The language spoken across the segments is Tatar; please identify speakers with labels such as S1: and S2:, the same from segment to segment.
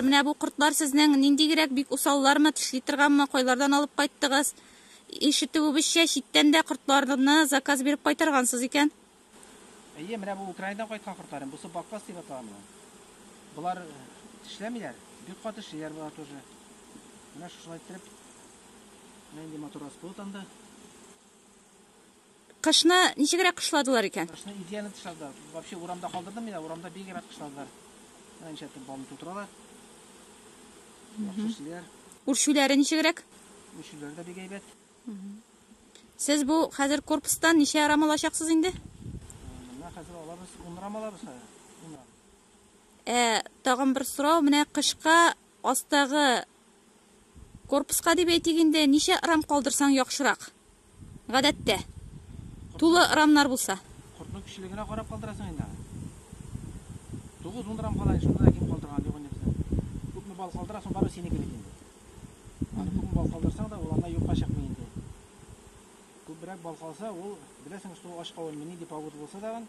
S1: Менә
S2: бу кортлар сезнең ниндигрәк бик усаллармы, тешли торганмы, кайлардан алып кайттыгыз? Ишетүебезчә, читтән дә кортларны заказ биреп кайтаргансыз икән. Әйе,
S3: менә бу Украинадан кайткан кортларым. Бусы баккас дип атала моны. Болар тешләмиләр, бик каты тешлиләр болар тоже. Менә шушылай иттереп, менә инде мотор аскылы танды.
S2: Кышны ничегрәк кышладылар икән? Кышны идеально тышладылар.
S3: Вообще урамда калдырдым мин, урамда бик әйбәт кышладылар. Менә ничә төр балны тутыралар. Яхшы
S2: Үрчүләре ничегрәк? Үрчүләре дә бик
S3: әйбәт.
S2: Сез бу хәзер корпустан ничә рам алачаксыз инде? Менә
S3: хәзер алабыз, 10 рам алабыз хәзер. Ә,
S2: тагын бер сорау, менә кышка астагы Корпуска дип әйтик инде, ничә рам калдырсаң яхшырак? Гадәттә. Тулы рамнар булса. Кортның кечелегенә
S3: карап калдырасың инде аны. 9-10 рам кала, шунда да ким калдырган юк инде безнең. Күпме бал калдырасың, бары синеке бит инде. Аны күпме бал калдырсаң да, ул анда юкка чыкмый инде. Күбрәк бал калса, ул беләсең, что ач кавынмы, нинди павыд булса тагын,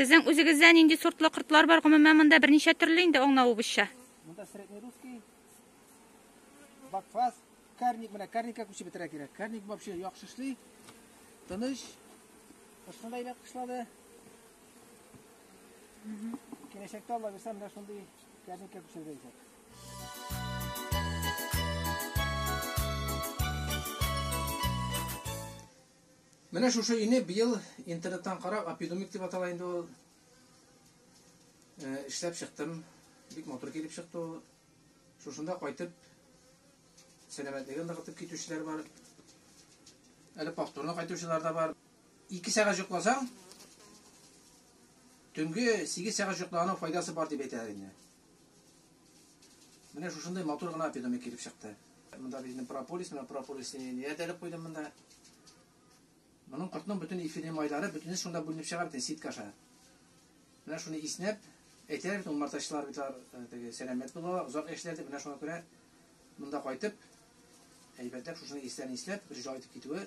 S1: Сезнең
S2: үзегездә нинди сортлы кортлар бар? Гомумән монда берничә төрле инде аңлавыбызча. Монда среднерусский,
S3: бакфас, карник менә карникка күчеп бетерә кирәк. Карник вообще яхшы эшли. Тыныч. Кышны да иләп кышлады. Киләчәктә Алла бирсә, менә шундый Кәзекә пешергәнчәк. Менә шушы ине быел интернеттан карап, апидумик дип атала инде ул. Э, эшләп чыктым. Бик матур килеп чыкты ул. Шушында кайтып сәламәтлеген ныгытып китүчеләр бар. Әле повторно кайтучылар да бар. Ике сәгать йокласаң, төнге сигез сәгать йоклаганың файдасы бар дип әйтәләр инде. Менә шушындай матур гына питомник килеп чыкты. Монда безнең прополис, менә прополис нияделеп куйдым монда. Моның кортның бөтен эфирный майлары бөтенесе шунда бүленеп чыга бит, ситка аша. Менә шуны иснәп, әйтәләр бит, умартачылар бит теге сәламәт була, озак яшиләр дип, менә шуңа күрә монда кайтып, әйбәтләп шушыны исләрен исләп, бер җай итеп китүе